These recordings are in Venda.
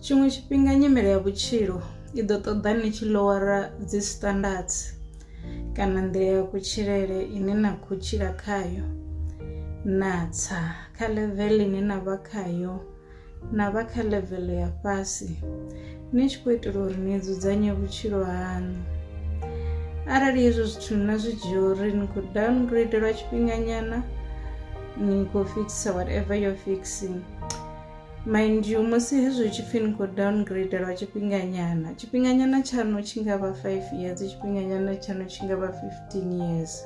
Tshiṅwe tshifhinga nyimele ya vhutshilo i ḓo ṱoḓa ni tshi lowara dzi standards kana nḓila ya kutshilele ine na khou tshila khayo na tsa kha level ine na vha khayo na vha kha level ya fhasi ni tshi khou itela uri ni dzudzanye vhutshilo haṋu arali hezwo zwithu na zwi dzhia uri ni khou downgrade lwa tshifhinganyana ni khou fixer whatever you're fixing Mind you, musi hezwi hu tshi pfi ni khou downgrade lwa tshifhinganyana, tshifhinganyana tshaṋu tshi nga vha five years, tshifhinganyana tshaṋu tshi nga vha fifteen years.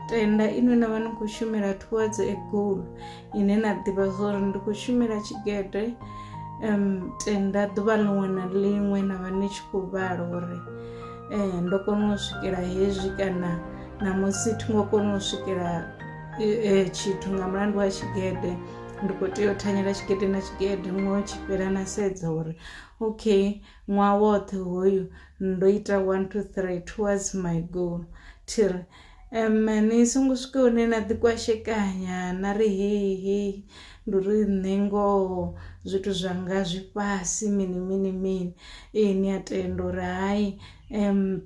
Tenda inwi na vha ni khou shumela towards a goal ine na ḓivha zwa uri ndi khou shumela tshigede um tenda ḓuvha ḽiṅwe na ḽiṅwe na vha ni tshi khou vhala uri um ndo kona u swikela hezwi kana namusi thi ngo kona u swikela tshithu nga mulandu wa tshigede. ndi khou tea u thanyela tshigede na tshigede ṅwaha tshi fhela na sedza uri okay ṅwaha woṱhe hoyu ndo ita one two three towards my goal thiri um ni songo swika hune na ḓi kwashekanya na ri hei hei ndi uri nṋe ngoho zwithu zwanga zwi fhasi mini mini mini ee ni a tenda uri hai um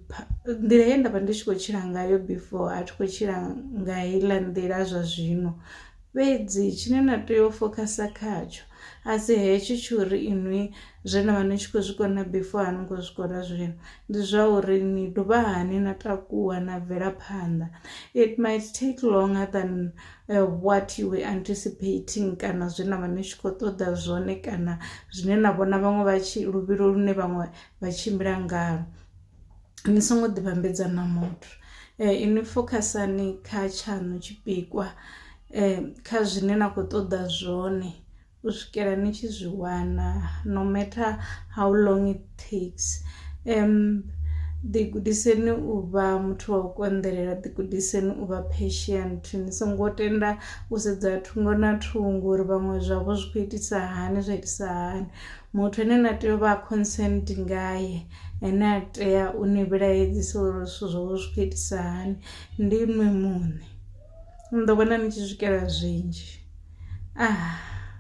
nḓila ye nda vha ndi tshi khou tshila ngayo before a thi khou tshila nga heiḽa nḓila zwa zwino Fhedzi tshine na tea u fokhasa khatsho a si hetsho tsho uri inwi zwe na vha ni tshi khou zwi kona before a ni ngo zwi kona zwino ndi zwa uri ni dovha hani na takuwa na bvela phanḓa it might take longer than uh, what you were anticipating kana zwe na vha ni tshi khou ṱoḓa zwone kana zwine na vhona vhaṅwe vha tshi luvhilo lune vhaṅwe vha tshimbila ngalo Ni songo ḓi vhambedza na muthu inwi fokhasani kha tshaṋu tshipikwa kha zwine na kho ṱoḓa zwone u swikela ni tshi zwi wana no matter how long it takes ḓi gudiseni u vha muthu wa u konḓelela ḓi gudiseni u vha patient ni songo tenda u sedza thungo na thungo uri vhaṅwe zwavho zwi kho itisa hani zwa itisa hani muthu ane na tea u vha consent ngae. ene a tea u ni vhilaedzisa uri zwithu zwo zwi khou itisa hani ndi inwi muṋe ni ḓo vhona ni tshi swikela zwinzhi.